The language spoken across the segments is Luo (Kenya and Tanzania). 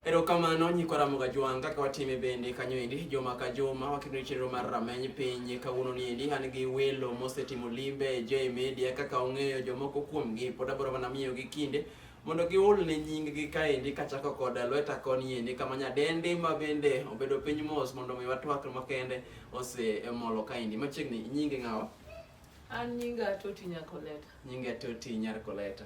Erokamano nyikwa Ramoga Jwang' kaka watime bende kanyo endi juma ka juma wakendo chenro mar rameny piny kawuono ni endi an gi welo mosetimo limbe e J Media kaka ong'eyo jomoko kuomgi pod abiro mana miyogi kinde mondo giol ne nyinggi kaendi kachako kod lweta koni endi kama nyadendi ma bende obedo piny mos mondo mi watwak makende osemolo kaendi machiegni nyingi ng'awa An nyinga Toti Nyakoleta. nyingi atoti nyar koleta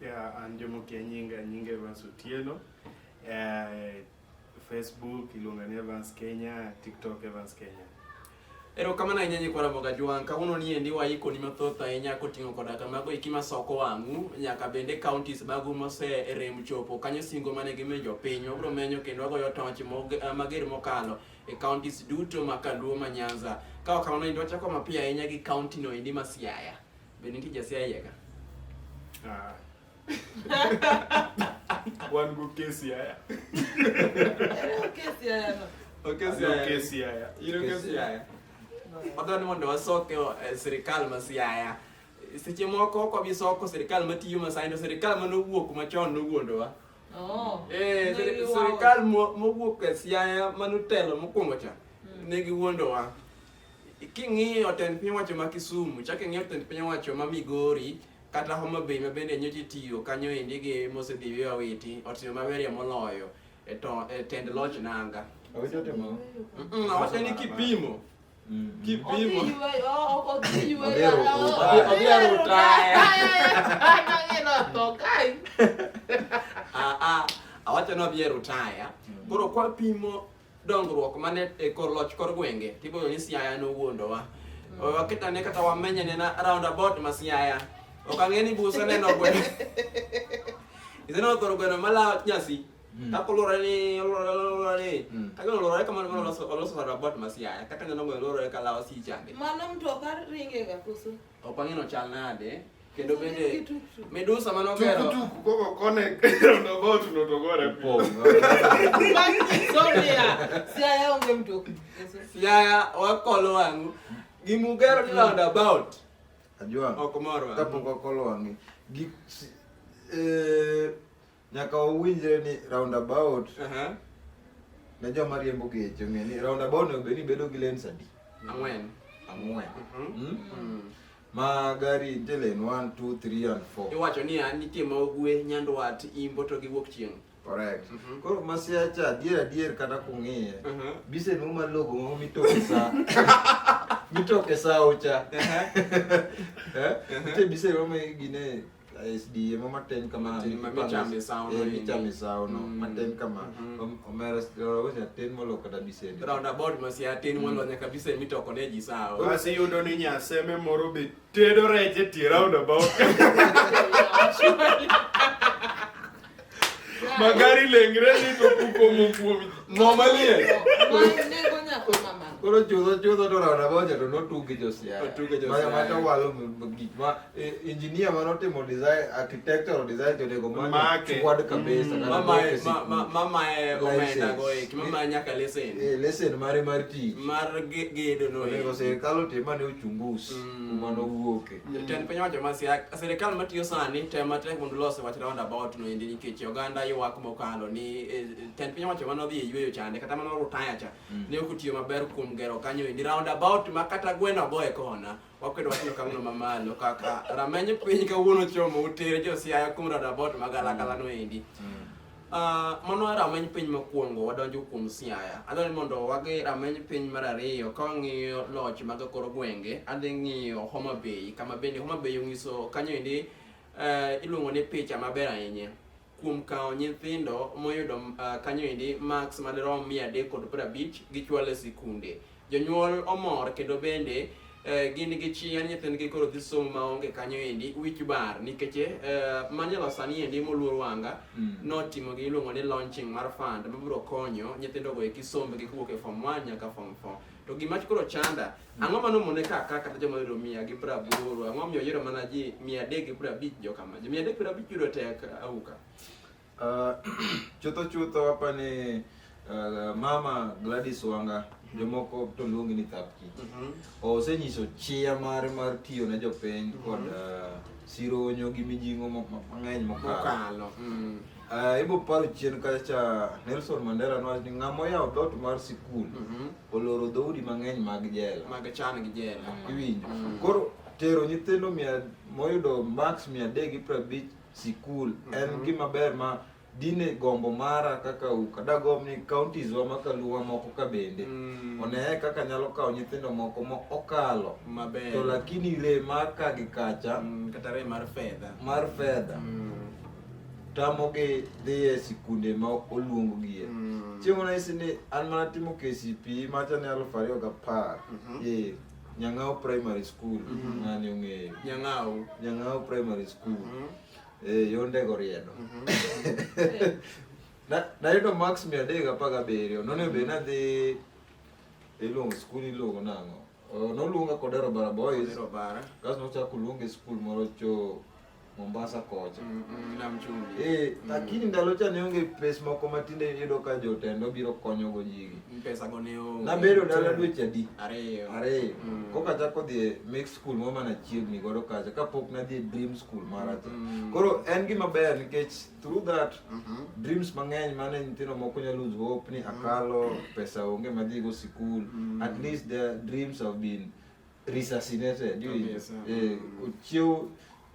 Yeah, an Jomo Kianyinga, Nyinga Evans Otieno. Uh, Facebook iluonga ni Evans Kenya, TikTok Evans Kenya. Erokamano ahinya nyikwa Ramoga Jwang'. Kawuono ni endi waikoni mathoth ahinya koting'o koda ka mago eki masoko wang'u nyaka bende counties magu moserem chopo kanyo singo mane gimiyo jopiny. Wabiro menyo kendo wagoyo toch eh, mager mokalo e counties duto ma Kaluo ma Nyanza. Ka wakamano endi wachako mapiyo ahinya gi county no endi ma Siaya. Be nitie jasia iye ka? Ah. Wan go kesi haya. Kesi haya no. Okay, Wan go kesi haya. Iro ka siaya. Wadwa ni mondo wasoke eh, sirikal ma siaya. Seche moko kwa bisoko sirikal matiyo masai to sirikal mane owuok machon nowuondowa. Oh. Eh, sir- Negi wawo. sirikal mo- mowuok e siaya mane otelo mokwongo cha ne giwuondowa. King'iyo tend piny owacho ma Kisumu, chak ing'iyo tend piny owacho ma Migori, kata Homa Bay ma bende nyocha itiyo kanyo endi gi mosedhiwe Awiti, otimo maberie moloyo e to- e tend loch nanga. Awiti otimo. Mm-mm, Awacho ni kipimo, Mm. Odhi kipimo. yueyo, o- o- odhi yueyo, Odhi ero- o- odhi- odhi ero ero tayo. tayo. Nang'ino otho kae. Ah, ah, awacho ni odhi e rutaya. Koro kwapimo dongruok mane e kor loch kor gwenge tiboyo ni Siaya nowuondowa mm. waketane kata wamenyane na roundabout ma Siaya ok ang'e ni busa neno gweno iseneno thoro gweno mala nyasi mm. kaka oluore ni oluore ni mm. kaka oluore kamano mano oloso roundabout ma Siaya kaka neno gweno oluore ka lawo si change mano mtoka ringe ga kusu Opangino chal nade? Kendo bende Medusa mane ogero tukutuku koko kone roundabout notogore Siaya onge mtoki. Siaya wakolo wang'u gimugero ni roundabout ajua ok mor wang'u kapok wakolo wang'e gi eh, Nyaka wawinjre ni roundabout. Uh -huh. Ne joma riembo geche ong'e ni roundabout onego bed ni bedo gi lanes adi? Ang'wen. Ang'wen. Mhm. Hmm? Mm -hmm. Mm -hmm. ma gari nitie lane 1 2 3 and 4 iwacho ni an nitie ma ogwe nyandwat imbo to giwuok chieng' correct mm -hmm. koro masiacha adier adier kata kung'iye mm -hmm. bise nu malogo mo mitoke sa mitoke sa ocha mhm. eh? mhm. nitie bise mo gine SDA mo matin kamano Matin ma michame sawono Eh, endi. michame sawono Mm. matin kamano Mhm. Om- omera s- rogo cha tin molo kata bisende roundabout masiatin walonya kabisa mitoko ne ji sawa Bas iyudo ni nyaseme moro be tedo rech e tie roundabout. Magari lengre ni to kuko mokuomi. Momalie. Koro chudho chudho to rona boja to notugi josiaya. Otugi josiaya. Maya mata walo gik ma engineer ma notimo design architectural design to nego ma chwad kabisa. Mama mama mama omenda go ek mama nyaka lesen. Eh lesen mare mar tich. Mar gedo no. Nego sirkal otima ne ochungus. Kuma nowuoke. Jatend piny owacho ma Siaya, sirikal matiyo sani tem matek mondo los wach roundabout no endi nikech oganda ywak mokalo ni eh, jatend piny owacho mane odhi e yueyo chande kata mane orutaya cha Mm. ne ok otiyo maber kuom gero kanyo endi roundabout ma kata gweno ogo e kona wakwedo wachno kamano mamalo kaka rameny piny kawuono chomo utere jo Siaya kuom roundabout ma galagala no endi Uh, mano e rameny piny mokwongo wadonjo kuom Siaya. Adwaro ni mondo wagi rameny piny mar ariyo ka wang'iyo loch mag kor gwenge, adhi ng'iyo Homa Bay kama bende Homa Bay onyiso kanyo endi uh, iluongo ni picha maber ahinya kuom kawo nyithindo moyudo uh, kanyo endi marks madirom mia adek kod piero abich gichwalo e sikunde. Jonyuol omor kendo bende eh, gin gi chien nyithindgi koro dhi somo maonge kanyo endi wich bar nikech eh, manyalo sani endi moluor wanga Mm. notimo gi iluongo ni launching mar fund mabiro konyo nyithindo go eki sombgi kowuok e form 1 nyaka form 4 to gima koro chanda ang'o mano mone ka ka kata joma yudo mia gi pra aboro ang'o miyo yiero mana ji mia adek gi pra abich jokama ji mia adek pra abich yudo tek auka Uh, chutho chutho apa ni uh, mama Gladys Wanga jomoko to luongi ni Thapki Mhm. osenyiso chia mare mar tiyo ne jopiny kod uh, sironyo gi mijing'o mo- mo- mang'eny mokalo Mokalo. Mm. Uh, ibo paro chien kacha cha Nelson Mandela nowacho ni ng'ama oyawo dhoot mar sikul Mhm. oloro dhoudi mang'eny mag jela Mag chan gi jela. iwinjo Mm. koro tero nyithindo mia moyudo max mia adek gi prabich sikul mm -hmm. en mhm. gima ber ma dine gombo mara kaka uka dagom ni counties wa makaluwa moko ka bende mm. oneye kaka nyalo kawo nyithindo moko ma okalo maber to lakini re mar ka gi kacha mm, kata re mar fedha mar fedha mm. tamogi dhi e sikunde ma oluonggie mm. chieng' ona isi ni an mana timo KCPE macha ne aluf ariyo gapar mm -hmm. yeah. Nyang'ao Primary School Mhm. ng'ani ong'eyo Nyang'au. Nyang'ao Primary School Mhm. eh, yonde goriedo Na- nayudo max mia adek gi apar gabiriyo nonego bed nadhi iluongo skul iluongo nang'o Eh, noluonga Kodero Bara Boys Kodero Bara. kasto nochako oluonga e skul moro cho Mombasa kocha. Mm, mm, nam chumbi. Eh, mm. lakini ndalo cha neonge pes moko matinde yudo ka jotendo biro konyo go jigi. Mm, pesa go ne onge. Na bedo ndalo dweche adi? Ariyo. Ariyo. Mm. Koka chako dhi make school mo mana chiegni godo kacha kapok nadhi dream school mara cha. Mm. Koro en gima ber nikech through that mm -hmm. dreams mang'eny mane nyithindo moko nyalo lose hope ni mm. akalo mm. pesa onge madhi go sikul. Mm. At least their dreams have been reassassinated yes, uh, eh, ochiew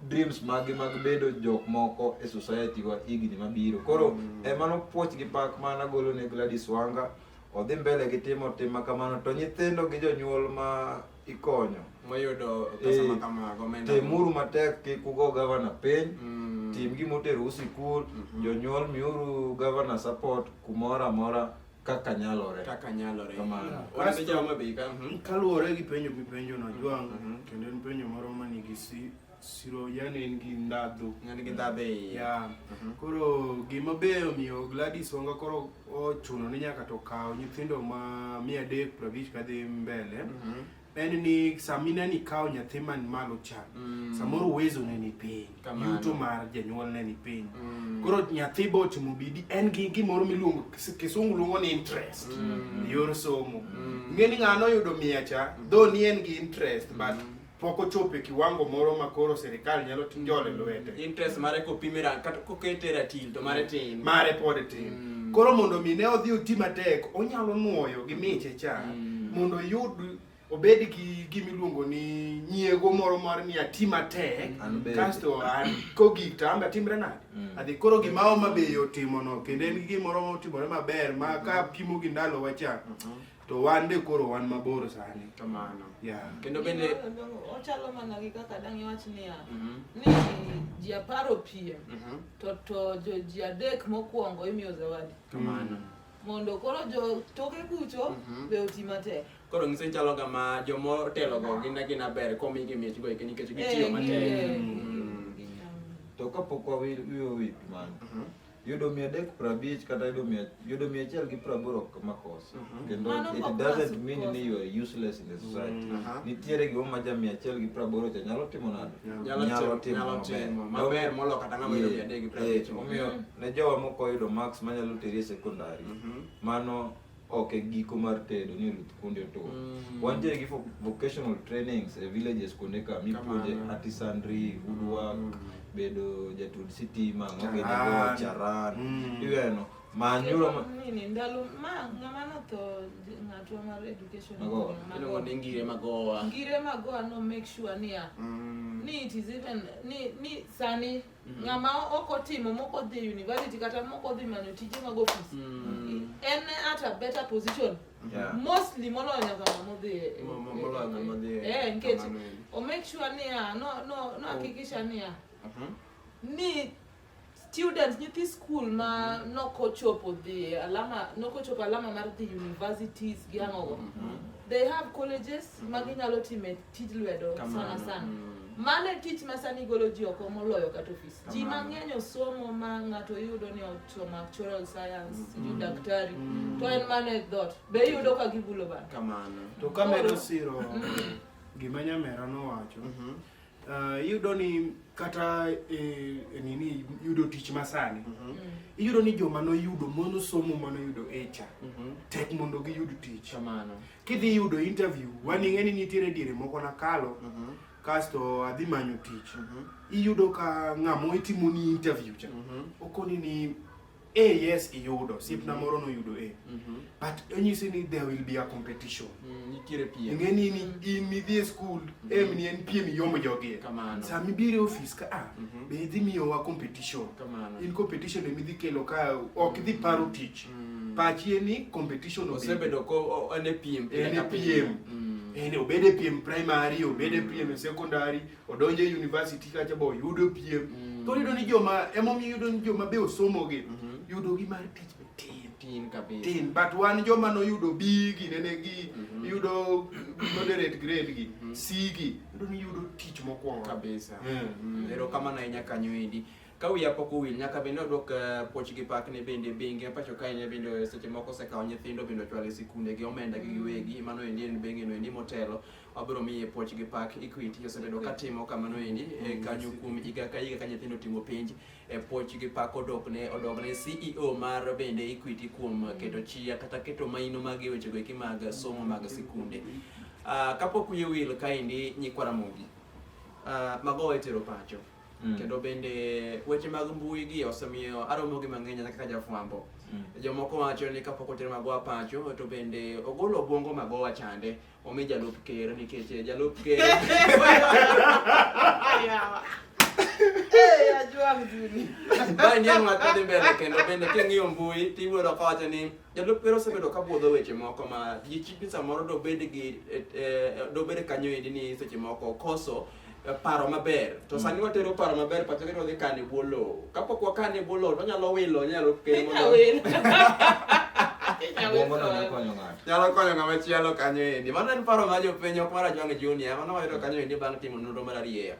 dreams mag mag bedo jok moko e society wa higni mabiro koro mm. emano puoch gi pak mana golo ne Gladys Wanga odhi mbele gi timo tima kamano to nyithindo gi jonyuol ma ikonyo mayudo pesa e, ma kamago temuru matek kik ugo gavana piny mm. tim gimoteru sikul mm -hmm. jonyuol miuru gavana support kumoro amora kaka nyalore kaka nyalore kamano wan joma be ka mhm. kaluwore gi penjo mipenjo na mhm, jwang mhm. kendo en penjo moro ma nigi si siro yani en gi ndadhu en gi ndadhu e ya koro gima be omiyo Gladys Wanga koro ochuno ni nyaka to kawo nyithindo ma mia adek prabich kadhi mbele en ni sama ineno ikawo nyathi man malo cha mm. samoro uwezo ne ni piny yuto mar janyuol ne ni piny mm. koro nyathi be otimo bidi en gi gimoro miluongo kisungu luongo ni interest mm. yor somo mm. ng'e ni ng'ano oyudo mia cha mm. though ni en gi interest mm. but pok ochopo e kiwango moro ma koro sirikal nyalo njole lwete interest mare kopimira kata kokete ratil to mare mm. tin mare pod tin mm. mm. koro mondo mi ne odhi oti matek onyalo nuoyo gi miche cha mm. mondo oyud obed gi gima iluongo ni nyiego moro mar ni ati matek kasto kogik to ambe atimre nade mm. adhi koro gima oma be otimono kendo en gimoro motimore maber ma ka pimo gi ndalo wacha mm-hmm. to wan be koro wan mabor sani kamano yeah. kendo bende ochalo mana gi kaka dang' iwach niya mm-hmm. ni ji apar opiem mm-hmm. Toto joji adek mokwongo imiyo zawadi. Kamano. Mondo koro jo toke kucho Mhm. be oti matek. Koro ng'iso chalo kama jomo telo go gin gin aber komi gi mich go ikeni nikech Eh, gitiyo gi- matek. eh, Mm. gi- To kapok wawiyo wi mano, Mhm. yudo mia adek prabich kata yudo mia yudo mia achiel gi praboro ok makos mhm. kendo it doesn't mean ni you are useless in the society mm. nitiere gima ma ja mia achiel gi praboro cha nyalo timo nade nyalo timo maber molo kata ng'ama yudo mia adek gi praboro omiyo mm. ne jowa mok oyudo max manyalo teri e sekondari mhm. mano ok e giko mar tedo ni oluth kuonde to mm. wantiere gi vocational trainings e villages kuonde ka mipuonje artisanry woodwork bedo jatud sitima mabedo Charan. charan Mm. iweno manyulo ma- Nini, ndalo ma ng'ama notho j- ng'atwa mar education Magowa. Magowa. Iluongo ni ngire magowa. ngire magowa no make sure niya Mm. ni it is even ni ni sani ng'ama ok otimo mok odhi university kata mok odhi manyo tije mag ofis Mm. en at a better position Yeah. mostly molonya kwa mamodhi eh, Mo- mo- molonya eh, modhi eh, eh, nikech kamano eri. o make sure niya no no no hakikisha niya Mhm. ni students nyithi school ma nokochopo dhi alama nokochopo alama mar dhi universities gi ang'ogo they have colleges ma ginyalo time tij lwedo sana sana mm. Mano e tich ma sani golo ji oko moloyo kata ofis. Ji mang'eny osomo ma ng'ato yudo ni ochoma actuarial science, mm. sijui mm. daktari, mm. to en mano e dhot. Be iyudo ka gibulo bana? Kamano. To kamedo siro mm. gima nyamera nowacho, mm -hmm. Uh, iyudo ni kata eh, eh, nini yudo tich masani mm -hmm. iyudo ni joma noyudo monosomo manoyudo echa mm -hmm. tek mondo giyud tich Kamano. Kidhi yudo interview, wan ing'e ni nitiere diere moko nakalo, Mhm. kasto adhi manyo tich. Mhm. Iyudo ka ng'amo itimo ni interview cha. Mhm. Okoni ni, eh yes iyudo, siepna moro noyudo eh. Mhm. But onyisi ni there will be a competition. Mm, Nitiere piem. Ing'e ni ni in idhi e skul, em ni en piem iyomo jogi. Kamano. Sama ibiro e ofis ka, ah, Mhm. be idhi miyowa competition. Kamano. In competition emi idhi kelo ka ok idhi paro tich. mm. pachi en ni competition osebedo ko en e piem en e piem mm. en obed e piem primary obed e piem e secondary odonje e university kacha bo yudo piem mm. to yudo ni joma emomiyo yudo ni joma be osomo gi mm -hmm. yudo gi mar tich be tin tin kabisa tin but wan joma no yudo B gi nene gi mm -hmm. yudo moderate grade gi mm -hmm. C gi yudo ni yudo tich mokwongo kabisa mm. mm. ero kama na inya kanyo indi Ka wiya pok owil, nyaka bende odwok eh, puochgi pak ne bende bengi pacho kae ne bende eh, seche moko osekawo nyithindo bende ochwalo e sikunde gi omenda gi giwegi mm. mano endi en bengi no endi motelo wabiro miye puochgi pak Equity osebedo ka timo kamano endi eh, mm, kanyo kuom higa ka higa ka nyithindo timo penj e puochgi pak odok ne odok ne CEO mar bende Equity kuom mm. keto chia kata keto maino mag weche go eki mag somo mag sikunde. Uh, kapok wiye wil kaendi nyikwa Ramogi. Uh, ah, mago etero pacho. Mm. Kendo bende weche mag mbui gi osemiyo aromo gi mang'eny kaka jafwambo. Mm. Jomoko wacho ni kapok oter magowa pacho to bende ogolo obwongo magowa chande omi jalup ker nikech eh, jalup ker Bani en ng'at madhi mbele kendo bende king'iyo mbui tiwuoro kawacho ni jalup ker osebedo ka budho weche moko ma ji chik ni samoro dobed gi eh, eh, dobed kanyo endi ni seche moko koso paro maber to mm. sani watero paro maber pacha kendo wadhi kane bwo lowo kapok wakane bwo lowo to wanyalo wilo nyalo kelo nyalo konyo ng'ama chielo kanyo endi mano en paro ma jopiny ok mar ajwang' junior mano wayudo kanyo endi bang' timo nonro mar arieya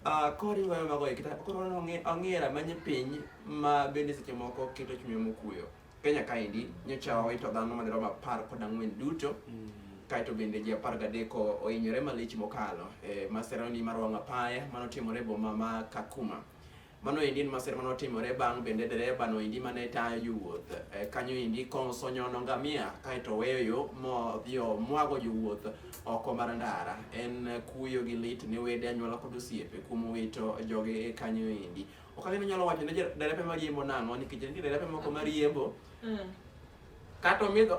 ah, koriwo mago ekita koro ong'era manye piny ma bende seche moko keto chunywa mokuyo Kenya kaendi nyocha owito dhano madirom apar kod ang'wen duto mm. kaeto bende ji apar gadeko ohinyore malich mokalo e maserani mar wang' apaya manotimore e boma ma Kakuma. Mano endi en masira mane otimore bang' bende dereba no endi mane tayo jowuoth e, kanyo endi kosonyono ngamia kaeto oweyo yo modhi omwago jowuoth oko mar ndara. En kuyo gi lit ne wede anyuola kod osiepe kuom wito joge kanyo endi. ok ang'e ni nyalo wacho ne derepe mariembo nang'o nikech nitie derepe moko mariembo mm. kata omidho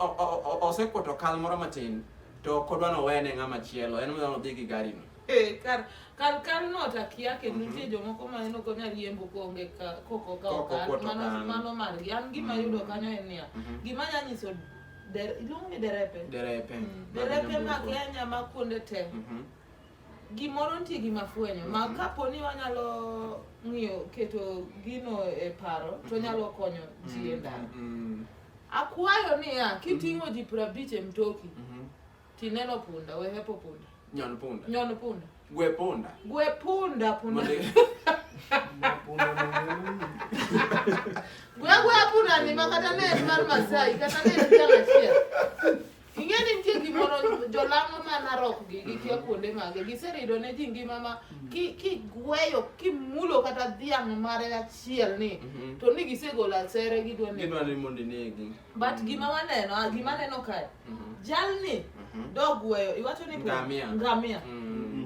osekwoto kal moro matin to ok odwa nowene ng'ama chielo en odwa nodhi gi garino eh, kar kar kar no takia ke mhm. nitie jomoko ma en okonya riembo konge koko ka okar mano mano margi an gima mhm. yudo kanyo en niya mhm. gima nya nyiso iluongo ni derepe derepe mm, derepe ma Kenya ma kuonde te Gimoro nitie gi mafwenyo ma mhm. kapo ni wanyalo ng'iyo keto gino e paro to mhm. nyalo konyo ji e mhm. ndara. Akwayo niya, kiting'o ji piero abich e mtoki tineno punda, we hepo punda. Nyon punda. Nyon punda. Gwe punda. Gwe punda punda. Gwe gwe punda ni makata ne mar Masai, kata ne en jang achiel. Ing'e ni nitie gimoro jolang'o ma narok gi gikia mm-hmm. kuonde mage giserido ne ji ngima ma mm-hmm. ki kigweyo kimulo kata dhiang' mare achiel ni mm-hmm. to ni gisegolo asere gidwa ne gidwa ni mondo inegi but gima waneno a gima neno kae jalni dogweyo iwacho ni ngamia ngamia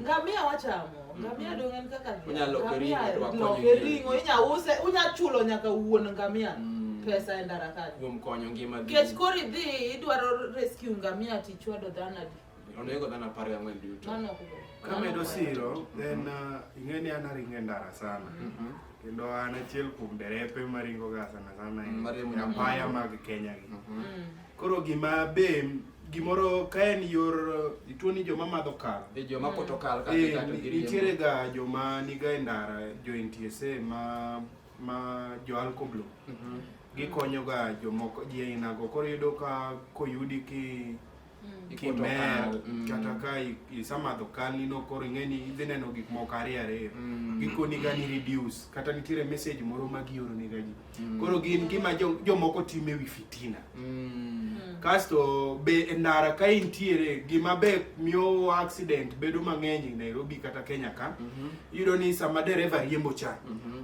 ngamia wachamo Ngamia dong en kaka dhiang'. Onyalo loke ring'o Ngamia to akonyo loke ji. ring'o inya use unya chulo nyaka wuon ngamia Mm. pesa e ndara kanyo. Kuom konyo ngima gi. Kech koro idhi idwaro rescue ngamia tichwado dhano adi. Onego dhano apar gi ang'wen duto. Mano ok ber. Kamedo siro, then uh, ing'e ni an aringo e ndara sana. Mhm. Kendo an achiel kuom derepe maringo ga sana sana Mm, mariembo e apaya mag Kenya gi. Mhm. Mm. Koro gima be gimoro ka en yor tuo ni joma madho kal e joma poto kal ka e, nitiere ga joma niga e ndara jo NTSA ma ma jo alkoblo mm -hmm. gikonyo ga jomoko ji aina go koro yudo ka koyudi ki mm. kimer mm. kata ka isamadho kal nino koro ing'eni idhi neno gik moko ariyo ariyo mm. gikoni ga ni reduce kata nitiere message moro ma gioro ni ga ji mm. Mm. Koro gin gima jomoko time wi fitina. Mm. Kasto be e ndara ka intiere gima be miyo accident bedo mang'eny e Nairobi kata Kenya ka. Mm -hmm. Iyudo ni sama dereva riembo cha. Mm -hmm.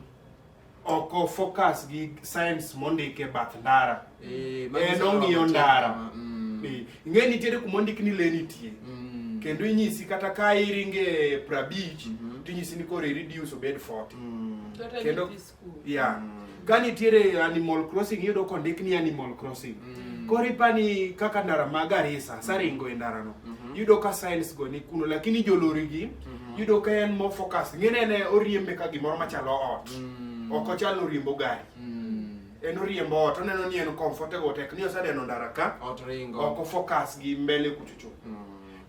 Oko focus gi science mondike bath ndara. Eh, en ong'iyo ndara. Mm. Eh, ing'e nitiere kuma ondik ni le nitie. Mm. Kendo inyisi kata ka iringe prabich mm -hmm. tinyisi ni koro reduce obed 40. Mm. Kendo Yeah. Mm. Ka nitiere Animal Crossing iyudo kondik ni Animal Crossing. Mm. Koro ipani kaka ndara ma Garissa, saringo e ndara no. Mm -hmm. Yudo ka signs go ni kuno lakini jolori gi mm -hmm. yudo ka en more focus. Ngene ne oriembe ka gimoro machalo ot. Mm. Ok ochal oriembo gari. Mm. En oriembo ot, oneno ni en comfortable tek ni osadeno ndara ka. Ot ringo. Ok focus gi mbele kuchuchu. Mm.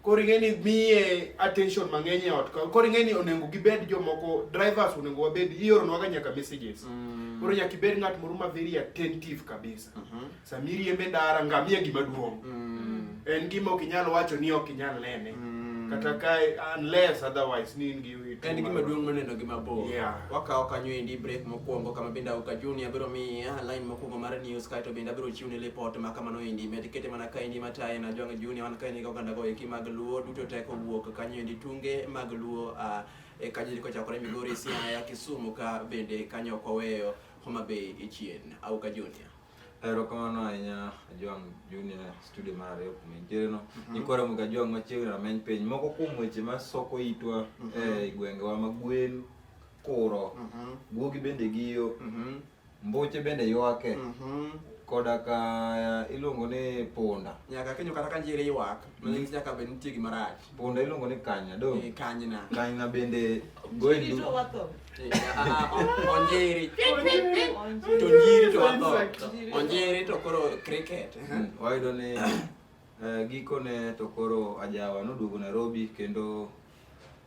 koro ing'e ni miye attention mang'eny e ot ka koro ing'e ni onego gibed jomoko drivers onego wabed ioronwaga nyaka messages Mm. koro nyaka ibed ng'at moro ma very attentive kabisa Mhm. sama iriembe ndara ngamia gima duong' Mm. en gima ok inyal wacho ni ok inyal nene Mm. kata ka unless otherwise ni in gi En gima duong' maneno gi mabor. Yeah. Wakawo kanyo endi break mokwongo kama bende auka junior biro miya line mokwongo mar news kaeto bende abiro chiwne report ma kamano endi med kete mana ka endi mataye na jwang' junior wan ka endi gi oganda go eki mag luo duto teko wuok kanyo endi tunge mag luo uh, e kanyo endi kochakore Migori, Siaya, Kisumu ka bende kanyo ok waweyo Homa Bay e chien. Auka junior. Erokamano ahinya Ajwang' Junior studio mar ariyo kuma intiere no. Mhm. Ikore muga Ajwang' machiegni rameny piny. Moko kuom weche ma soko itwa mhm. e gwengewa ma gwen kuro. Mhm. Guogi bende giyo. Mbuche bende ywake. Koda ka eh, iluongo ni punda. Nyaka kinyo kata ka njiri ywak, manyisi nyaka bed nitie gima rach. Punda iluongo ni kanya do. Eh, kanyna. Kanyna bende gwendu. Chiri to watho. Eh, ah, ah, ah, onjiri. To nyiri to watho. Onjiri to koro cricket. Hmm, wayudo ni eh, gikone to koro ajawa noduogo Nairobi kendo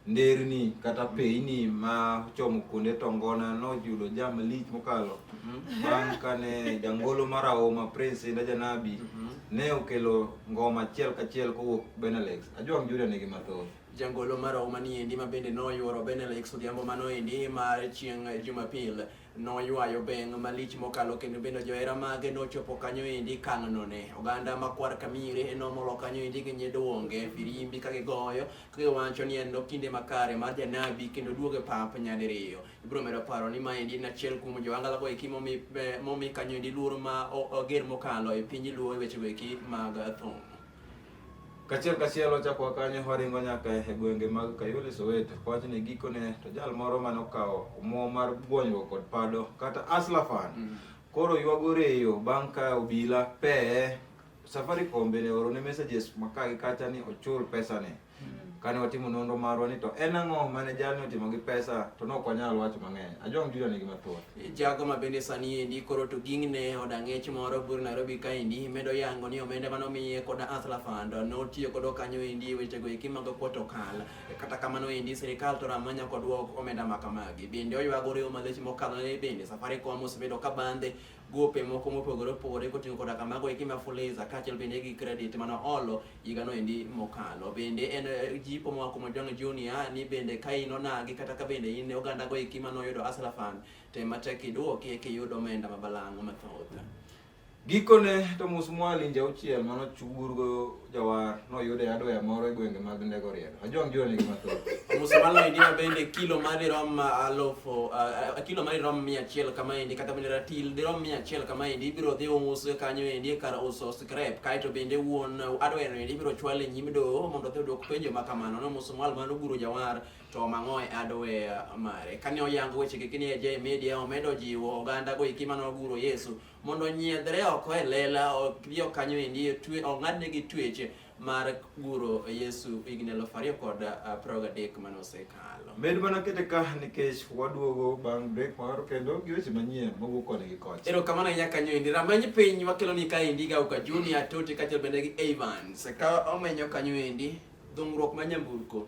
nderni kata peyni ma chomo kuonde tongona noyudo jam lich mokalo mhm. bang' kane jangolo mar aoma prince inda janabi mhm. ne okelo Ngoma achiel kachiel kowuok Benalex. Ajwang' Julia nigi mathoth. Jangolo marahuma ni endi ma bende noyuoro Benalex odhiambo mano endi mar chieng' Jumapil noywayo beng' malich mokalo kendo bende johera mage nochopo kanyo endi kang'none. Oganda makwar kamire nomolo kanyo endi gi nyidwonge firimbi ka gigoyo ka giwacho ni en no kinde makare mar janabi kendo duoge pap nyadiriyo. ibiro medo paro ni maendi en achiel kuom joangala go eki momi eh, momi kanyo endi luoro ma o- oger mokalo e piny luo e wechego eki mag thum Kachiel kachiel wachako kanyo waringo nyaka e gwenge mag Kayole Soweto. Wach ni gikone to jal moro mane okawo omuom mar gwonyruok kod pado kata aslafan. Mm. Koro yuago reyo bang' ka obila peye Safaricom bende orone messages maka gi kacha ni ochul pesane. kane watimo nonro marwa ni to en ang'o mane jalni otimo gi pesa to ne ok wanyal wacho mang'eny ajong juda nigi mathoth jago ma bende sani endi koro to gingne od ang'ech moro bur nairobi kaendi medo yango ni omenda mane omiye kod asla fund notiyo kodo kanyo endi wechego eki mag protokal kata kamano endi sirikal to rama nyako dwok omenda ma kamagi bende oywagore omalech mokalo ne bende safaricom osebedo ka bandhe gope moko mopogore opogore koting'o koda kamago eki ma Fuliza kaachiel bende gi credit mane oolo higano endi mokalo. Bende en eh, jipo moa kuom Ojwang' Junior ni bende ka in onagi kata ka bende in oganda go eki mane oyudo Hustler Fund tem matek iduoki eki iyud omenda ma balang' mathoth. Gikone to Musmwali nja auchiel mane ochurgo Jawar noyude adwaya moro e gwenge mag Ndego Riedo. Ajwang' jua nigi mathoth. Musamalo idiwa bende kilo ma dirom ah, alofo ah, ah, kilo ma dirom mia achiel kama endi kata bende ratil dirom mia achiel kama endi ibiro dhi uus kanyo endi e kar uso scrap kaeto bende wuon adweno endi ibiro chwal e nyim doho mondo odhi odwok penjo ma kamano no Musamalo mano guro Jawar to mang'o e adwaya mare. Kane oyango weche gi kini e J Media omedo jiwo oganda go iki mano guro Yesu mondo onyiedhre oko e lela odhi okanyo endi ong'adne gi twech mar guro Yesu higni elfu ariyo kod uh, piero gadek mane osekalo. Med mana kete ka nikech waduogo bang' break moro kendo gi weche manyien mawuok koni gi kocha. Erokamano ahinya kanyo endi. Rameny piny wakelo ni ka endi ga uka Junior Toti kaachiel bende gi Evans. Ka omenyo kanyo endi dhung'ruok ma nyamburko.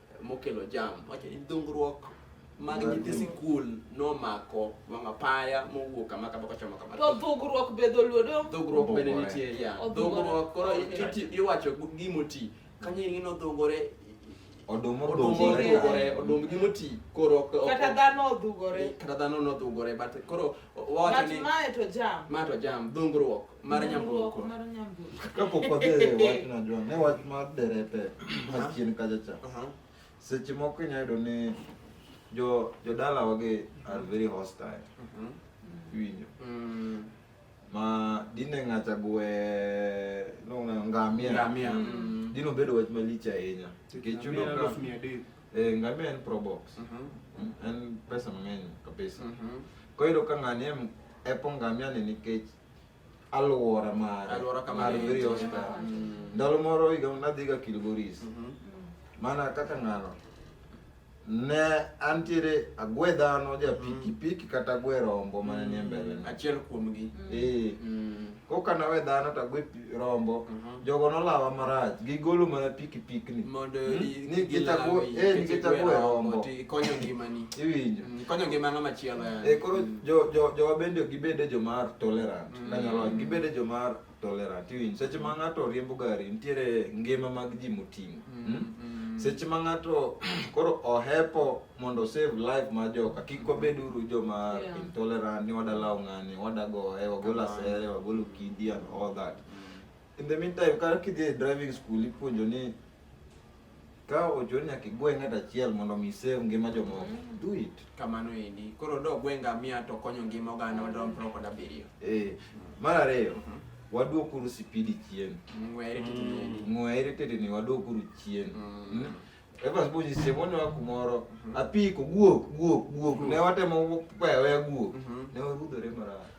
mokelo jam wacho ni dhungruok mag nyithi sikul nomako wang' apaya mowuok kama kama kochomo kama to dhugruok be dholuo do dhugruok bende nitie ya dhugruok koro iwacho gimoti kanyo ing'e nodhugore odum odhugore odum gi moti koro kata dhano odhugore kata dhano nodhugore but koro wacho ni mae to jam mae to jam dhungruok Mara nyambuko. Mbuoko. Mara nyambuko. Kapok wadhi e wach najua ne wach mar derepe ma chien kacha cha. Aha. Seche moko inya yudo ni jo jodala wage are very hostile. Mhm. Iwinjo. Mm. Ma dine ng'acha gwe no ngamia. Ngamia. Mm. Mm. Dino bedo wach malich ahinya. Nikech yudo Ngamia ka elfu mia adek. eh, ngamia en pro box. Mhm. Mm, En pesa mang'eny kabisa. Mhm. Koyudo ka ng'ani em epo ngamia ni nikech alwora mar Alwora kama mar ne Three entie. Hospital. Mm. Ndalo moro higa nadhiga Kilgoris. Mhm. Mana kaka ng'ano ne antiere agwe dhano ja piki piki kata agwe rombo mane nie mbele na. Achiel kuomgi. Eh, Mm. koka nawe dhano to agwe pi- rombo Mhm. jogo nolawa marach gigolo mana pikipikni mondo Hmm? i- Ni gilawi, gitakuo- eh, ni nikech gitakuo igwe e rombo. rombo, to ikonyo ngimani iwinjo Mm, ikonyo ngimano machielo yani. e koro Mm. jo- jo- jowa bende ok gibede jomar tolerant Mm. kanyalo wacho gibede jomar tolerant iwinjo seche ma ng'ato riembo gari nitiere ngima mag ji moting'o Mm, Hmm? mm. seche ma ng'ato koro ohepo mondo save life ma joka kik wabed uru joma yeah. intolerant ni wadalaw ng'ani wadago e wagol asere wagol ukidi and all that in the meantime ka kidhi e driving school ipuonjo ni ka ochoni nyaka igwe ng'at achiel mondo mi save ngima jomoko mm. do it kamano endi koro do gwe ngamia to konyo ngima oganda wadwa mpro kod abiriyo eh mar ariyo mm -hmm. waduokuru sipidi chien ng'were teteni mm. ng'were teteni waduokuru chien mm. mm. Evans Bunyi siemo ne kumoro mhm. apiko guok guok guok ne watemo weya weya guok mhm. ne warudhore marach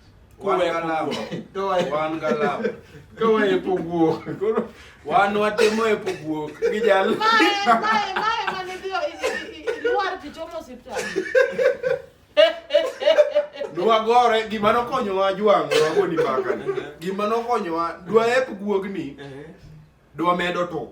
wan watemo e poguok gi jal nwagore gima nokonyowa jwang' wagoni mbakani gima nokonyowa dwaep guogni dwa medo to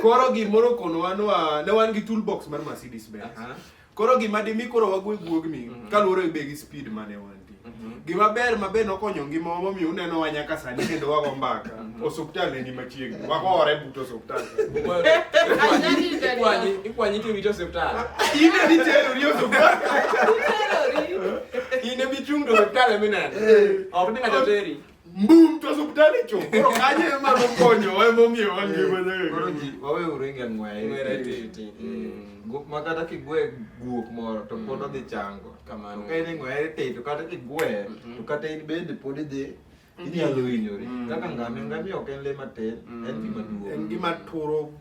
koro gimoro konowa nwa ne wan gi toolbox mar Mercedes Benz Aha. koro gima dimi koro wago e guogni Mhm. kaluwore be gi speed mane wanti Mhm. gima ber ma be nokonyo ngimawa momiyo uneno wa nyaka sani kendo wago mbaka Mhm. osuptal eni machiegni wagore but osuptal Ikwanyi- ikwanyi tiwito osiptal in eni terori osuptal in emichung' to osiptal eminene ok ni ng'ato teri Mbum to hospital cho. Koro kanye ema nokonyo wa ema omiyo wangima nyaga. Koro ji wawe uringa ng'weye. Ng'weye titi. Guok ma kata kigwe guok moro to pod odhi chango. Kamano. Ka in ng'weye titi to kata kigwe to kata in bende pod idhi inyalo hinyori. Kaka ngamia ngamia ok en le matin, en gima duong'. En gima turo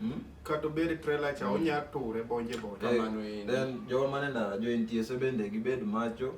kata obed trailer cha onya ture bonje bonje. Kamano. Then joma ne ndara jo NTSA bende gibed macho.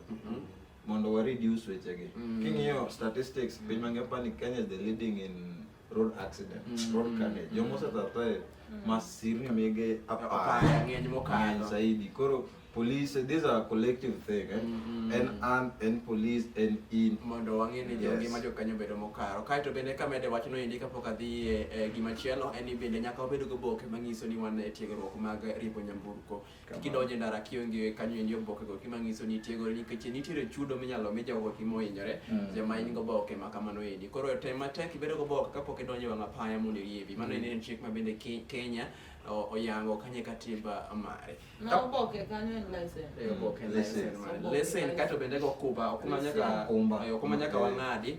mondo wa reduce wechegi mm. king'iyo statistics mm. piny mangima pani Kenya is the leading in road accident mm. road carnage mm. jomosa tatae mm. masirni mege apar ng'eny mokalo zaidi koro police these are collective thing eh? mm -hmm. en an en police en in mondo wang'e ni yes. ngima jokanyo bedo mokaro kaeto bende kamede wachno endi kapok adhi e, e gima chielo en ni bende nyaka wabed goboke manyiso ni wan e tiegruok mag ripo nyamburko kidonjo e ndara kionge kanyo endi oboke go kima ngiso ni tiegore nikech nitiere chudo minyalo mi jogo kima ohinyore mm. jama in go boke ma kamano endi koro tem matek ibedo go boke kapok idonjo e wang' apaya mondo iriebi mano mm. en chik ma bende Kenya oyango kanye katiba mare na oboke kanyo en license e oboke license license kato bende go kuba okuma nyaka okuma nyaka wang'adi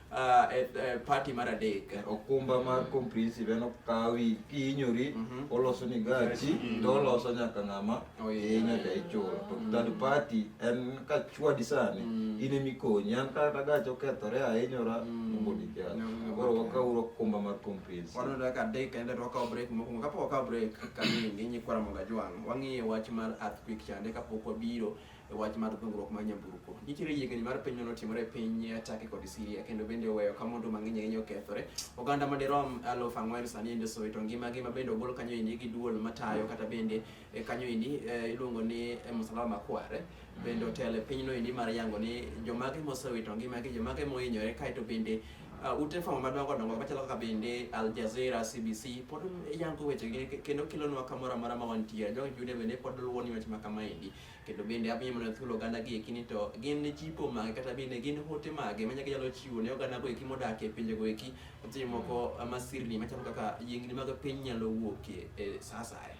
uh, e, e, party mar adek okumba mar comprehensive en okawi kihinyori Mhm. oloso ni gachi to oloso nyaka ng'ama Oh, yeah. iye nyaka ichulo to third party en ka chwadi sani Mm. in emikonyi an kata gachi okethore ahinyora Mm. mobodi kiacha No, koro okay. wakauru okumba mar comprehensive waneno kaka adek ende to wakawo break mokwongo kapok wakawo break kamiyo nginyi kwara monga jwang' wang'iyo wach mar earthquake chande kapok wabiro e wach mar dhungruok mar nyamburko. Nitiere yiengni mar piny manotimore e piny Turkey kod Syria kendo bende oweyo ka mwandu mang'eny ahinya okethore. Oganda madirom aluf ang'wen sani ende osowe to ngimagi ma bende ogol kanyo endi gi duol matayo kata bende e, kanyo endi e, iluongo ni e, msalaba makware bende otelo e pinyno endi mar yango ni jomage mosewito ngimagi jomage mohinyore kaeto bende uh, ute fwambo madongo dongo machalo kaka bende Al Jazeera, CBC pod yango weche gi kendo kelonwa kamoro amora ma wantiere. Jogi jude bende pod luwo ni weche ma kama endi. kendo bende abiro mana thuolo oganda gi eki ni to gin jipo mage kata bende gin hote mage manya ginyalo chiwo ne oganda go eki modak e pinje go eki seche moko ah, masirni machalo kaka yiengni mag piny nyalo wuokie e sa asaya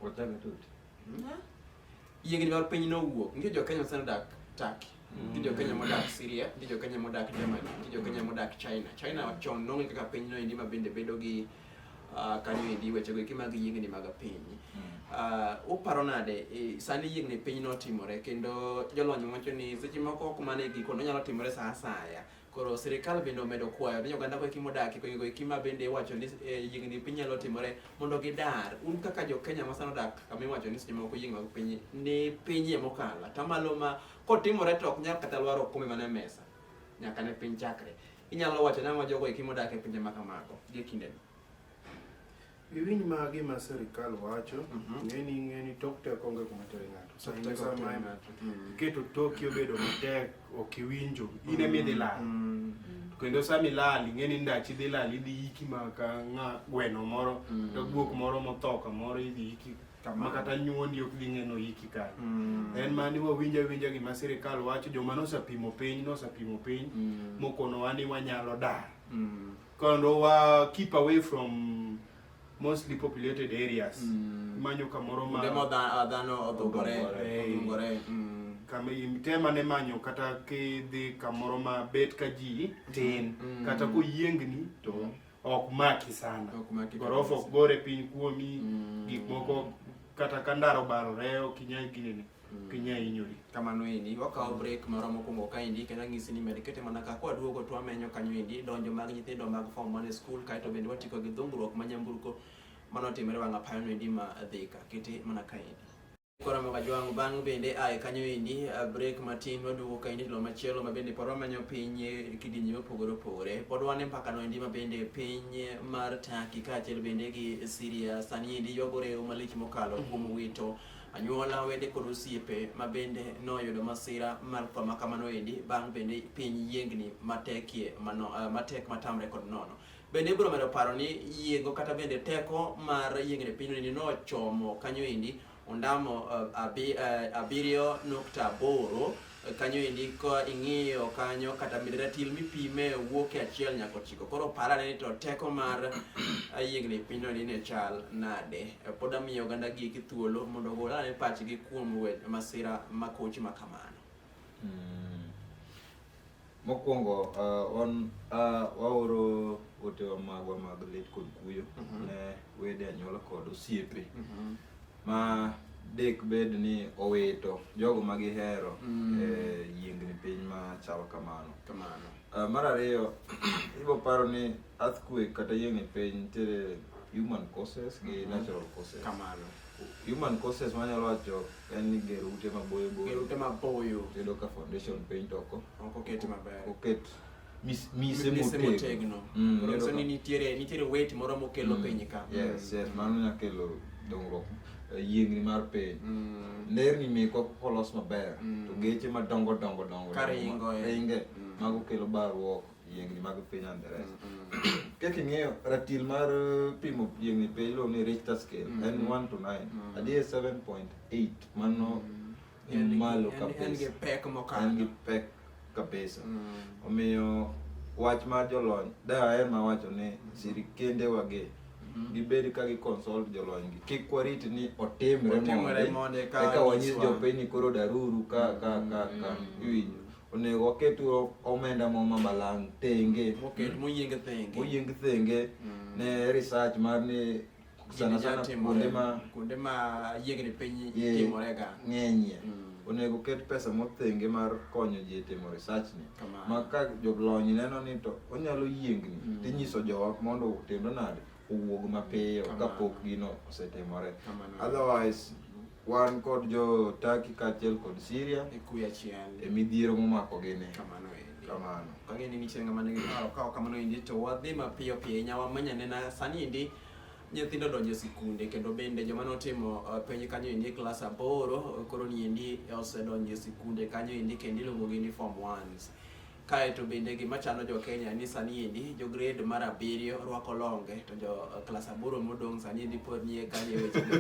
Wachanga tu. yiengni mag piny nowuok nitie jo Kenya sani odak Turkey nitie jo Kenya modak Syria nitie jo Kenya modak Germany nitie jo Kenya modak China China chon nong'e kaka piny noendi ma bende bedo gi uh, kanyo endi wechego eki mag yiengni mag piny uh, uparo nade e, sani yiengni piny notimore kendo jolony wacho ni seche moko ok mana e giko nonyalo timore sa asaya koro sirikal bende omedo kwayo ni oganda koeki modakie kogigo eki ma bende iwacho ni e, yiengni piny nyalo timore mondo gidar un kaka jokenya ma sano dak kama iwacho ni seche moko yiengni mag piny ni pinyie mokalo atamalo ma kotimore to ok nyal kata lwaro okombe mana e mesa nyaka ne piny chakre Inyalo wacho nang'o jogo eki modak e pinje ma kamago gie kindeni? Iwinj ma gima sirkal wacho, Mhm. ng'eni ng'eni tok tek onge kuma tere ng'ato. Sa in sa ma en- Mm. iketo toki obedo matek ok iwinjo, in ema idhi lal. Mm. Kendo sama ilal, ing'eni ndachi idhi lal, idhi yiki ma ka ng'a gweno moro, Mm. ka guok moro motho kamoro idhi yiki ma kata nyuondi ok dhi ng'eno iki kae mm. en mani wawinja winja gima sirikal wacho joma nosepimo piny nosepimo piny mm. mokonowa ni wanyalo dar mm. kendo wa keep away from mostly populated areas mm. manyo kamoro ma demo dhano odhugore odhugore mm. kama tema ne manyo kata kidhi kamoro ma bet ka ji tin mm. kata koyiengni to mm. ok maki sana gorofa ok gore piny kuomi mm. gik moko kata ka ndaro barore ok inyal ginene mm. kinya inyori kamano endi wakawo mm. break moro mokwongo ka endi kendo ang'isi ni med kete mana ka kwa duogo to amenyo kanyo endi donjo mag nyithindo mag form one school kaeto bende watiko gi dhungruok ma nyamburko mano timore wang'apayono endi ma dhika kete mana ka endi Koramo ka jwangu bang' bende ae kanyo endi uh, break matin waduogo ka endi lo machielo ma bende pod wamanyo piny e kidienje mopogore opogore pod wane mpaka no endi ma bende piny mar Turkey kaachiel bende gi Syria sani endi ywagore yo malich mokalo mm-hmm. kuom wito anyuola wede kod osiepe ma bende noyudo masira mar tho ma kamano endi bang' bende piny yiengni matekie mano, uh, matek matamre kod nono Bende ibiro medo paro ni yiengo kata bende teko mar yiengni pinyni nochomo kanyo endi ondamo uh, abiriyo uh, nukta aboro kanyo endi ka ing'iyo kanyo kata mideratil mipime wuok e achiel nyaka ochiko koro parane ni to teko mar yiengni pinyno ni ne chal nade pod amiyo oganda gigi thuolo mondo ogol ane pachgi kuom masira makoch ma kamano mm. Mokwongo uh, wan uh, waoro otewa magwa mag lit kod kuyo mm -hmm. ne wede anyuola kod osiepe mm -hmm. ma dek bed ni owito jogo ma gihero mm -hmm. e, yiengni piny ma chalo kamano kamano uh, mar ariyo ibo paro ni earthquake kata yiengni piny nitiere human causes gi mm -hmm. natural causes kamano human causes wanyalo wacho yani gero ute maboyo boyo gero ute maboyo tedo ka foundation paint oko oko ket maber oket mise motegno mm, so ni nitiere nitiere weight moro mokelo mm. piny ka yes yes mano nya kelo dongruok eh, yiengni mar piny mm. nderni meko kolos maber to geche madongo dongo dongo karingo eh. ringe mago kelo barruok yiengni mag piny Angereza. Kaka ing'eyo ratil mar eh, pimo yiengni piny iluongo ni Richter scale Mm. en 1 to 9. Mm. Adier 7.8 mano ni malo En gi kabisa. pek En gi mokalo. pek kabisa. Mm. Omiyo wach mar jolony daher ma wacho ni sirikende wage Mhm. gibed ka gi consult jolony gi kik warit ni otimre Otimre monde mondi ka eka wanyis nyiswa. jopiny ni koro daruru ka ka ka ka Mm. iwinjo onego waket omenda mo ma malang' thenge Moket moyieng thenge. moyieng thenge Mm. ne research mar ni sana Gini sana nyalo timore. kuonde ma kuonde ma yiengni piny Yeah. timorega. ng'enyie Mm. onego ket pesa mothenge mar konyo ji e timo research ni Kamano. ma ka jolony neno ni to onyalo yiengni Mm. tinyiso jowa mondo otimre nade owuog mapiyo Kamano. kapok gino osetimore Kamano. otherwise wan kod jo Turkey kaachiel kod Syria E kuya chiel. e midhiero momako gini Kamano endi. kamano Kang'e ni nitie ng'ama nigi paro ka ok kamano endi to wadhi mapiyo piyo ahinya wamanya nena sani endi nyithindo donjo e sikunde kendo bende joma notimo eh, penj kanyo endi e klas aboro eh, koro ni endi osedonjo e sikunde kanyo endi kendo iluongogi ni form ones Kae to bende gima chando jo Kenya ni sani endi jo grade mar abiriyo rwako longe to jo eh, klas aboro modong' sani endi pod nie kanye wechego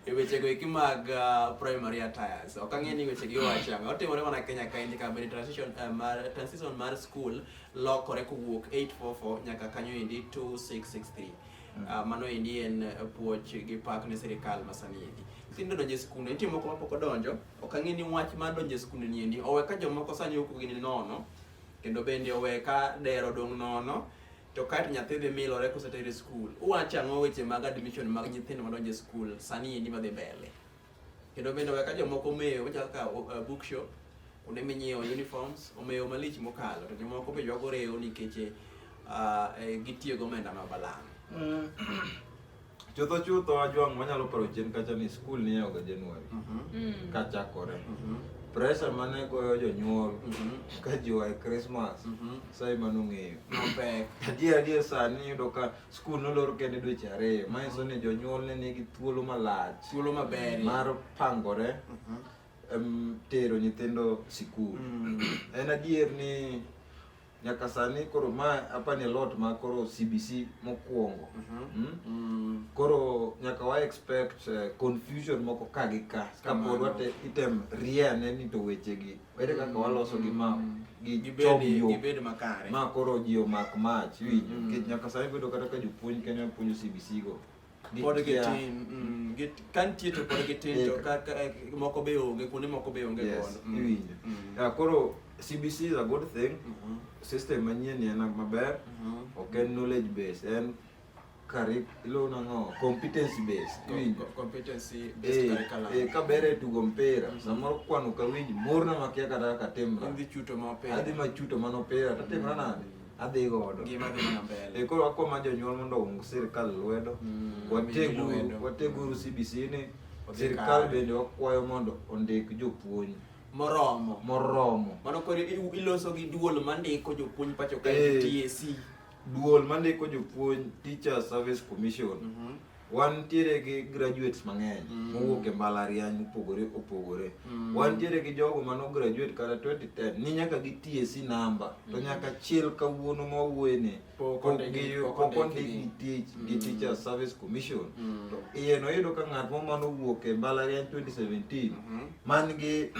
e wechego eki mag uh, primary attires. Ok ang'e ni weche gi wacho ang'o. Otimore mana Kenya kae ndi ka bende transition uh, mar transition mar school lokore kowuok 844 nyaka kanyo endi 2663. Mm. Uh, mano endi en puoch gi pak ne sirikal masani endi. Nyithindo donjo e skul, nitie moko mapok odonjo Ok ang'e ni wach mar donjo e skunde ni endi owe ka jomoko sani ok gini nono kendo bende owe ka dero dong' nono to kae to nyathi dhi milore koseter e skul. Uwacho ang'o weche mag admission mag nyithindo madonjo e skul sani endi madhi mbele? Kendo bende owe ka jomoko omewo machalo kaka uh, bookshop kuonde minyiewo uniforms omewo malich mokalo to jomoko be ywago rewo nikech uh, eh, gitiyo gomenda ma balang'. chutho chutho ajwang' wanyalo paro chien kacha ni skul niyawoga januari mm. kachakore mm-hmm. pressure mane goyo jonyuol mm-hmm. ka jiwa e krismas mm-hmm. sai manong'eyo mapek adier adier sani yudo ka skul nolor kende dweche ariyo manyiso ni jonyuol ne nigi thuolo malach thuolo maber mar pangore tero nyithindo sikul mm. en adier ni nyaka sani koro ma hapa ni lot ma koro CBC mokwongo mm -hmm. mm? mm. koro nyaka wa expect uh, confusion moko ka gi ka ka pod wate item ria ne ni to weche gi wete kaka mm. waloso gi ma mm. gi gibedi gibedi makare ma koro ji omak mach winjo mm. kit nyaka sani bedo kata ka jopuonj kenya puonjo CBC go pod gitin mm, ka nitie to pod gitin to eh, moko be onge kuonde moko be onge gono mm, iwinjo mm. koro CBC is a good thing mm-hmm. system manyien en maber mm-hmm. ok en knowledge base en curriculum no competency base iwinjo competency base eh, curriculum eh ka bere tugo mpira mm-hmm. samoro kwano ka winj morna makia kata ka timra adhi chuto ma opira adhi ma chuto ma opira to timra nade adhi godo gima dhi mana mbele e koro akwa ma jonyuol mondo ong sirkal lwedo mm, wateguru wateguru CBC ni sirkal bende wakwayo mondo ondik jopuonj moromo moromo mano koro iloso gi duol mandiko jopuonj pacho ka eh, TSC duol mandiko jopuonj teacher service commission mm -hmm. wantiere gi graduates mang'eny mm. mowuok e mbalariany mopogore opogore mm. wantiere gi jogo mano graduate kata 2010 ni nyaka gi TSC namba mm. to nyaka chil kawuono ma wawuoyeni pok ondikgi tich gi mm. Teacher Service Commission mm. to iye noyudo ka ng'at mo mano owuok e mbalariany 2017 mm -hmm. man gi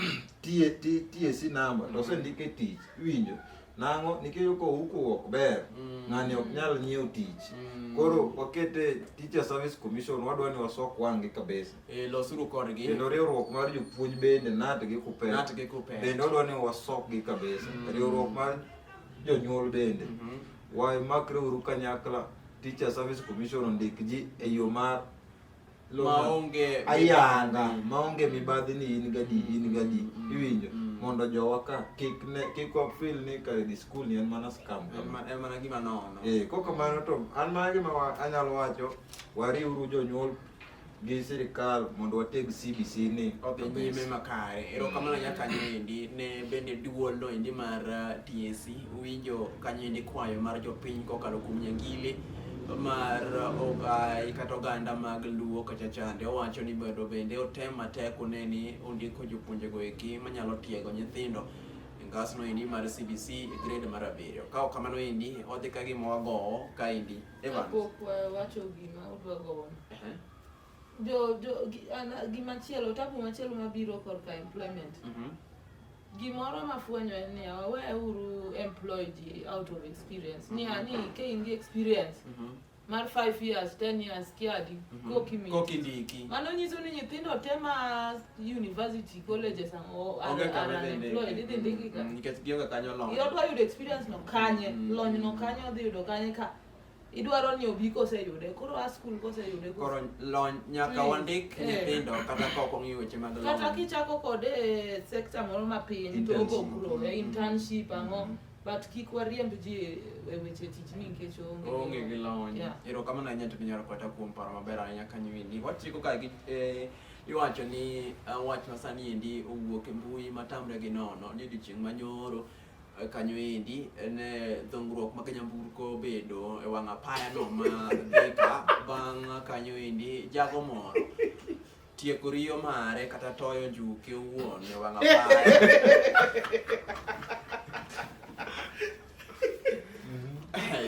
TSC namba to mm-hmm. osendike tich iwinjo Nang'o? Nikech ko huku ok ber, mm. ng'ani ok nyal nyiewo tich. Mm. Koro wakete Teacher Service Commission wadwa ni wasok wang'gi kabisa. Eh, losuru kodgi. Kendo riwruok mar jopuonj bende nat gi kupet. Nat gi kupet. Bende wadwa ni wasok gi kabisa. Mm. Riwruok mar jonyuol bende. Mm -hmm. Wamakreuru kanyakla Teacher Service Commission ondik ji e yo mar maonge ayanga maonge mibadhi ni in gadi in gadi mm. iwinjo mm. mondo jowa ka kik ne kik wa feel ni ka di school ni en mana scam en mana gima nono eh kok kamano to an mana gima anyalo wacho wariuru jonyuol gi sirikal mondo wateg CBC ni odhi nyime makare. Mm. Erokamano nya kanyo endi ne bende duol no endi mar uh, TSC winjo kanyo endi kwayo mar jopiny kokalo kuom Nyangili mar ogai kata oganda mag luo kacha chande owacho ni bedo bende otem matek one ni ondiko jopuonjego eki manyalo tiego nyithindo e ngasno endi mar CBC e grade mar abiriyo. Ka ok kamano endi odhi ka gima wagowo ka endi. Evans. Kapok wawacho gima udwa gowono. Ehe. Jo, jo, gi- ana- gimachielo, tabu machielo mabiro korka employment. Mhm. Gimoro ma fwenyo en niya, wawe uru employ ji out of experience. Niya ni ka in gi experience mar 5 years, 10 years kiadi, koki mi. Koki ndiki. Mano nyiso ni nyithindo te ma university, colleges ang' o- are Onge kama are idhi unemployed, idhi ndiki. ndiki ka. Mm, Nikech gionge kanyo long. Iyo dwa yudo experience no kanye, Mm. lony no kanye odhi yudo kanye ka idwaro ni obi koseyude koro a skul koseyude koro lony nyaka wandik eh. nyithindo kata ka ok ong'i weche mag kata kichako kode e sekta moro mapiny to ogo kuro e internship mm-hmm. ang'o but kik wariemb ji e weche tich ni nikech onge gi lony erokamano ahinya to minyalo kata kuom paro maber ahinya kanyo endi wachiko ka gi eh, iwacho ni eh, wach masani endi owuok e mbui matamre gi nono ni odiochieng' manyoro Eh, kanyo endi en eh, dhungruok ma Kanyamburko bedo e wang' apaya no ma Thika bang' kanyo endi jago moro tieko riyo mare kata toyo njuki owuon e wang' apaya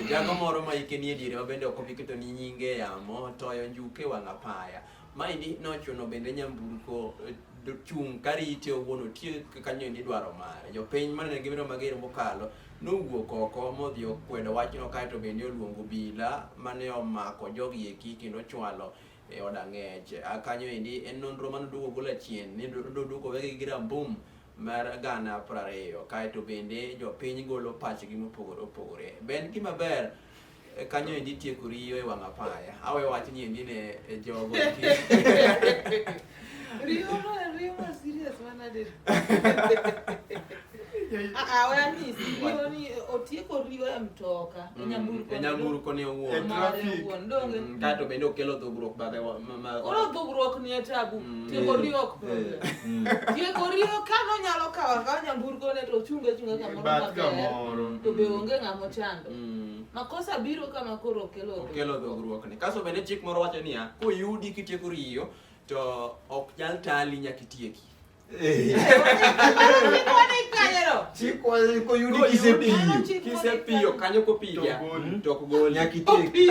jago moro ma ike nie diere ma bende ok obi keto ni nyinge yamo toyo njuke wang' apaya Maendi nochuno bende nyamburko eh, chung' karite owuon otie kanyo ni dwaro mare. Jopiny manene gimiro mager mokalo nowuok oko modhi okwedo wachno kaeto bende oluongo obila mane omako jogi eki kendo chwalo e od ang'ech. A Kanyo endi en nonro mane oduogo golo achien ni noduogo wegi gi rambum mar gana prariyo kaeto bende jopiny golo pachgi mopogore opogore. Be en gima ber E, kanyo endi tieko riyo e wang' apaya awe wach ni endi ne e jogo riyo ma riyo ma serious mana de awe ni riyo ni otieko riyo e mtoka e mm, nyamburko e nyamburko ni owuon mm, kato bende okelo dhugruok bathe oro dhugruok ni e tabu mm. tieko riyo ok problem tieko riyo ka nonyalo kawo akawa nyamburko ne to ochunge chunge kamoro maber to be onge ng'amo chando Mm. Makosa biro kama koro okelo okelo dhogruok ni. Kaso bende chik moro wacho niya, koyudi kitieko riyo to ok nyal tali nyaka itieki. Eh. koyudi kisepiyo kisepiyo kanyo kopiga to ok gol nyaka itieki.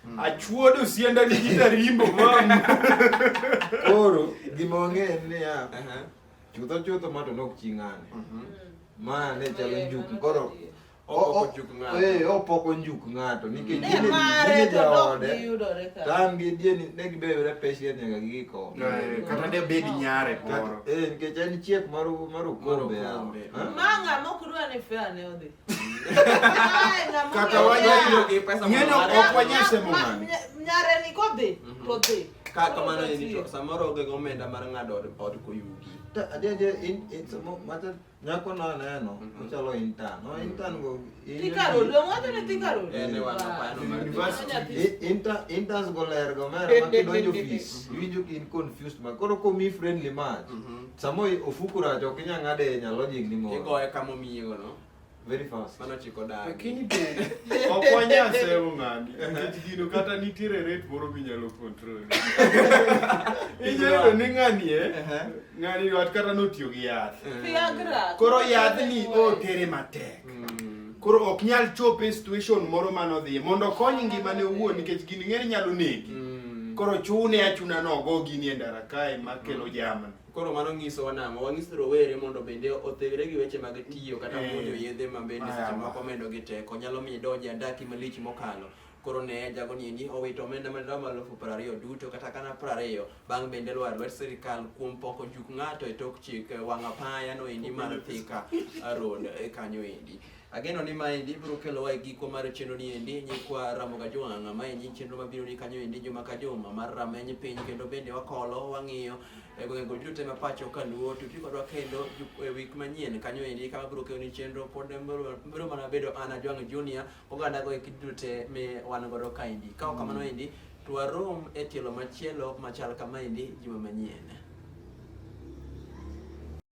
Hmm. Achuodo sienda ni kita rimbo mama. Koro gima wang'eyo en niya, chutho chutho ma to nok chi ng'ane. Mhm. Ma ne chalo njuk koro Opoko njuk ng'ato. Eh, opoko njuk ng'ato nikech Ne gine- mare gine to dok jaode. giyudore ka. Tam gi dieni ne gibeyore peshiet nyaka giko. Eh, Kata de bed nyare Kata- moro. Eh, nikech en chiek mar mar okombe yawa. Okombe. Ha? Ma ng'a mok dwa ni fair ne odhi. Kata wanyo gi pesa ng'enyo ok wanyise mong'ani. Nyare ni kodhi mhm. to dhi. Ka kamano ni to samoro onge gi omenda mar ng'ado od koyugi. Ta ajeje in in samo mata nyako na neno mhm. ochalo intern. No mhm. intern go. Tikaro lo ng'ato ni tikaro. Eh ne wana pa no mar university. Inter interns go ler go mera ma kidonjo office. Winjo in confused ma koro komi friendly match. Samo ofuku rach ok inya ng'ade e nyalo jing ni moro. Igoye kama omiyigo no. Very fast. Mano chiko dagi. Lakini be ok wanya sewo ng'ani. Nikech gino kata nitiere rate moro minyalo control. Inyalo ni ng'ani e. Ng'ani wat kata notiyo gi yath. Viagra. Koro yadhni otere matek. Mm. Koro ok nyal chope e situation moro mane odhiye mondo okony ngimane owuon nikech gini ng'ere nyalo negi. Mm. Koro chune achuna nogo gini e ndara kae makelo mm. jamni. Koro mano nyiso wanang'o? Wanyiso rowere mondo bende othegre gi weche mag tiyo kata eh. muonyo yedhe ma bende seche moko medo gi teko nyalo miyo idonj e andaki malich mokalo. Koro ne jago ni ni owito omenda ma dola malufu piero ariyo duto kata kana piero ariyo bang' bende lwar lwet sirikal kuom poko juk ng'ato e tok chik eh, wang' apaya no endi mar Thika Road eh, kanyo endi. Ageno ni ma endi biro kelowa e giko mar chenro ni endi nyikwa Ramoga Jwang' ma endi chenro ma biro ni kanyo endi juma ka juma mar rameny piny kendo bende wakolo wang'iyo e gwenge go duto ma pacho ka luo to ti kodwa kendo ju- e week manyien kanyo endi kama biro kelo ni chenro pod biro biro mana bedo Ana Jwang' Junior oganda go eki duto te mi wan godo kaendi ka ok kamano endi to warom e tielo machielo machal kama endi juma manyien